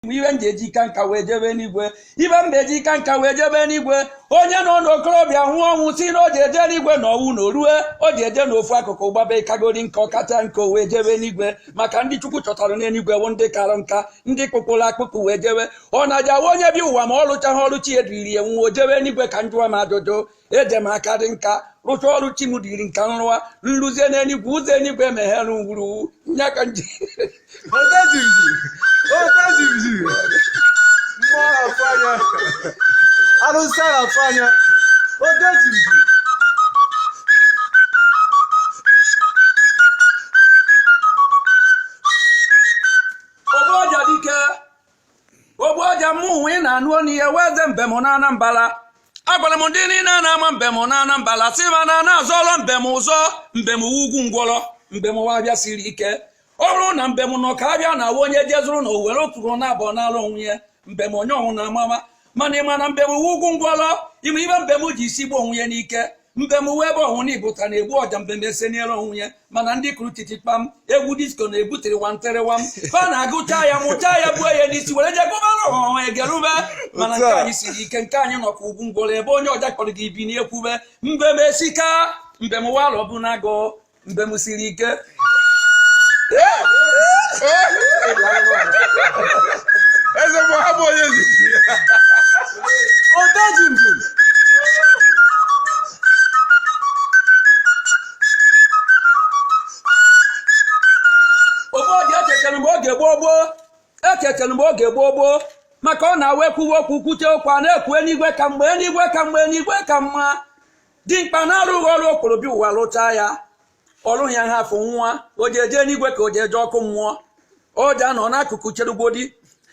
m ibe m ji eji ka nka wee jebe n'igwe ibe m ga-eji ka nka wee jebe n'igwe onye nọ n'okorobịa nwụọ ọnwụ si na o ji eje n'igwe na ọnwụ na orue o ji eje n'ofu akụkụ gbaba ịkagori nka ọkacha nka o wee jebe n'igwe maka ndị chukwu chọtara n'eluigwe bụ ndị kara nka ndị kpụkpụrụ akpụkpụ wee jebe ọ na-aja wa onye bi ụwa ma ọ lụchaghị ọrụ chi eduriri ya nwụọ jebe n'igwe ka njụwa m ajụjụ eje m akadị nka rụcha ọrụ chi m dịrị nka nrụwa nruzie n'eluigwe ụzọ eluigwe emeghere ngwuru nya ka nje Otajiji! Otajiji! Mmụọ na-atụ anya! Arụsị a na-atụ anya! Otajiji! ogbu ọja dike ogbu ọja mụwa ị na-anụ onu ya wụ eze mbem na anambala agwara m ndị niile na-ama mbem na anambala si ma na na-asọrọ mbem ụzọ mbem wụ ugwu ngwọrọ mbem wụ abịa siri ike ọ bụrụ na mbem nọ ka abịa na awa onye jezụrụ na owere okpuru na abụọ n'ala onwe ya mbem onye ọnwụ na amama mana ịma na mbem wụ ugwu ngwọrọ ịma ibe mbem ji isi gbuo onwe ya n'ike mbem wụ ebe ọhụrụ na ibụta na-egbu ọja mbem eseniere onwe ya mana ndị kụrụ titi kpam egwu disko na-ebutere wanterewam fa na-agụcha ya mụcha ya buo ya n'isi were je gụbara ọha egerube mana nke anyị siri ike nke anyị nọkwa ugwu ngwọrọ ebe onye ọja kpọrọ gị ibi n'ekwube mbem esika mbem ụwa alọ bụ na-agụ mbem siri ike eze bụ ha bụ onye nzuzu odaji mbem obodo ekekere mgbe oge gboo gboo ekekere mgbe oge gboo gboo maka ọ na-awa ekwuwe okwu kwute okwu a na-ekwu eluigwe ka mma eluigwe ka mma eluigwe ka mma dimkpa na-arụghị ọrụ o kporo bịa ụwa rụchaa ya ọrụ ya ha afọ nwa o ji eje n'igwe ka o ji eje ọkụ mmụọ o ji anọ n'akụkụ cherugodi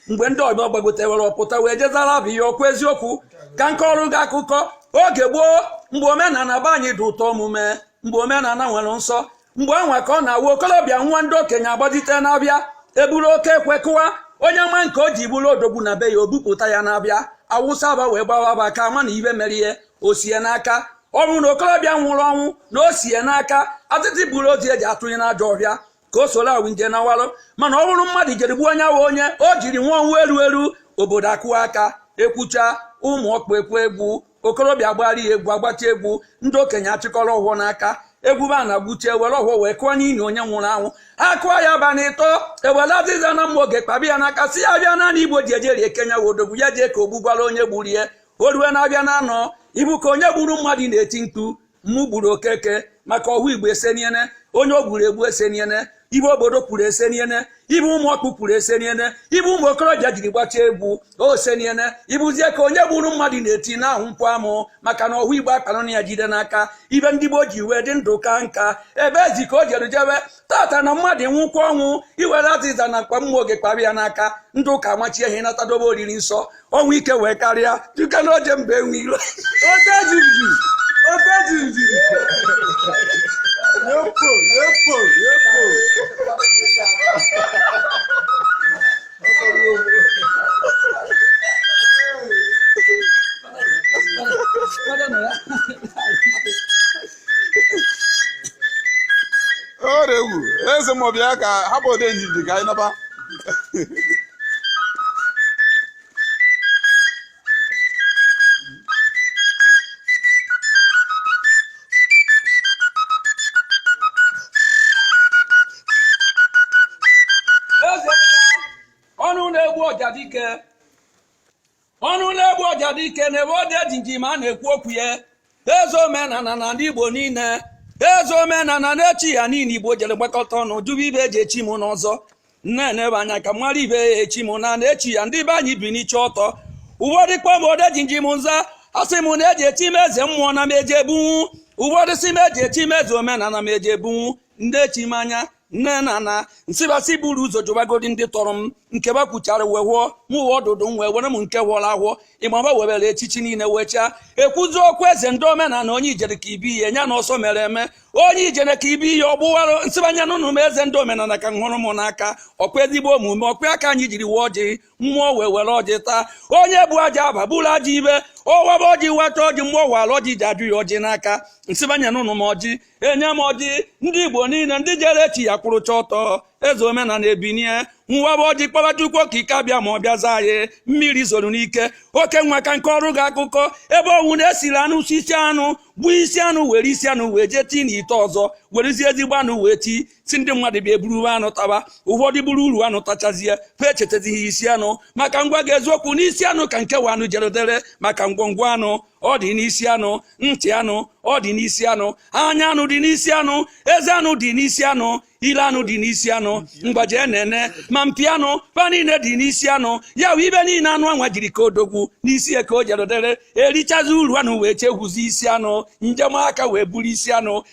mgbe ndị ọgbọ gbagotewere ọpụta wee jezara bụ ihe okwu eziokwu ka nke ọrụ gị akụkọ oge gboo mgbe omenala be anyị dị ụtọ omume mgbe omenala nwere nsọ mgbe anwa ka ọ na-awụ okolobịa nwa ndị okenye agbajite n'abịa eburu oke ekwe kụwa onye ma nke o ji bụrụ odogwu na be ya o bupụta ya n'abịa awụsa aba wee gbawa aba ka ama na ibe mere ihe o sie n'aka ọ bụrụ na okorobịa nwụrụ ọnwụ na o sie n'aka atịtị buru ozu eji atụnye n'ajọ ọhịa ka o soro awụ nje na walụ mana ọ bụrụ mmadụ jere gbuo onye ahụ onye o jiri nwa ọnwụ eru eru obodo akụwa aka ekwucha ụmụ ọkpụ ekwe egwu okorobịa gbara ya egwu agbacha egwu ndị okenye achịkọrọ ọfọ n'aka egwu ba na gbuche ewere ọfọ wee kụọ n'ili onye nwụrụ anwụ ha kụọ ya ba na ịtọ ewere azịza na mma oge kpabi ya n'aka si ya bịa naanị igbo ji ejeri eke nya wụ odogwu ya jee ka o gbugwara onye gburu ya o rue na-abịa na anọ ibu ka onye gburu mmadụ na-eti mkpu mụ gburu okeke maka ọhụ igbo eseniene onye o gburu egbu eseniene ibe obodo kwuru eseniene ibe ụmụ ọkpụ kwuru eseniene ibe ụmụ okorobịa jiri gbachaa egwu oseniene ibuzie ka onye gburu mmadụ na-eti na ahụ nkwụ amụ maka na ọhụ igbo akpanụ na ya jide n'aka ibe ndị gboo ji wee dị ndụ ka nka ebe ezi ka o jere jebe tata na mmadụ nwụkwa ọnwụ iwere azịza na mkpa mma oge kpara ya n'aka ndị ụka amachie ihe nata dobe oriri nsọ ọnwụ ike wee karịa dịka na oje mba enwe iro orewu eze mmụọ bịa ka hapụ odejimjim ka anyị naba eze mmụọ ọnụ na-egbu ọja dike ọnụ na-egbu ọja dike n'ebe odejimjim a na-ekwu okwu ya eze omenala na ndị igbo niile eze omenala na-echi ya niile igbo jere gbakọta ọnụ jụba ibe eji echi m n'ọzọ na-enebe anya ka mara ibe ya echi m na na-echi ya ndị be anyị biniche ọtọ ụfọdụ kpọm odejimjim nza asị m na eji echi m eze mmụọ na m eji ebunwu ụfọdụ si m eji echi m eze omenala m eji ebunwu ndị echi m anya nne na nna nsịbasị buru ụzọ jụbagodi ndị tọrọ m nke ba kwuchara wee hụọ m uwe ọdụdụ m wee were m nke hụọrọ ahụọ ịmaba webere echichi niile wee chaa ekwuzi okwu eze ndị omenala onye ijere ka ibi ihe ya na ọsọ mere eme onye ijere ka ibi ihe ọ gbụwara nsịbanye n'ụnụ m eze ndị omenala ka m hụrụ m n'aka ọkwa ezigbo omume ọkwa aka anyị jiri wee ọjị mmụọ wee were ọjị taa onye bụ aja aba bụrụ aja ibe ọwaba ọjị weta ọjị mmụọ wara ọjị ji ajụ ya ọjị n'aka nsịbanye n'ụnụ m ọjị enye m ọjị ndị igbo niile ndị jere echi ya kwụrụcha ọtọ eze omenala ebinie waba ọjị kpọba chukwu okike abịama ọ bịa zaa anyị mmiri zoro n'ike oke nwa ka m kọọrụ gị akụkọ ebe ọwụna esiri anụ si isi anụ gbuo isi anụ were isi anụ wee jee tii n'ite ọzọ werezie ezigbo anụ wee tii sị ndị mmadụ bịa eburu uru anụ taba ụfọdụ buru uru anụ tachazie fa echetazighị isi anụ maka m gwa gị eziokwu n'isi anụ ka nke wụ anụ jerodere maka ngwongwo anụ ọ dị n'isi anụ ntị anụ ọ dị n'isi anụ anya anụ dị n'isi anụ eze anụ dị n'isi anụ ile anụ dị n'isi anụ mgbaji na-ene ma mpi anụ fa niile dị n'isi anụ ya wụ ibe niile anụ anwa jiri ka odogwu n'isi ya ka o jerodere erichazi uru anụ wee chegwuzi isi anụ njem aka wee buru isi anụ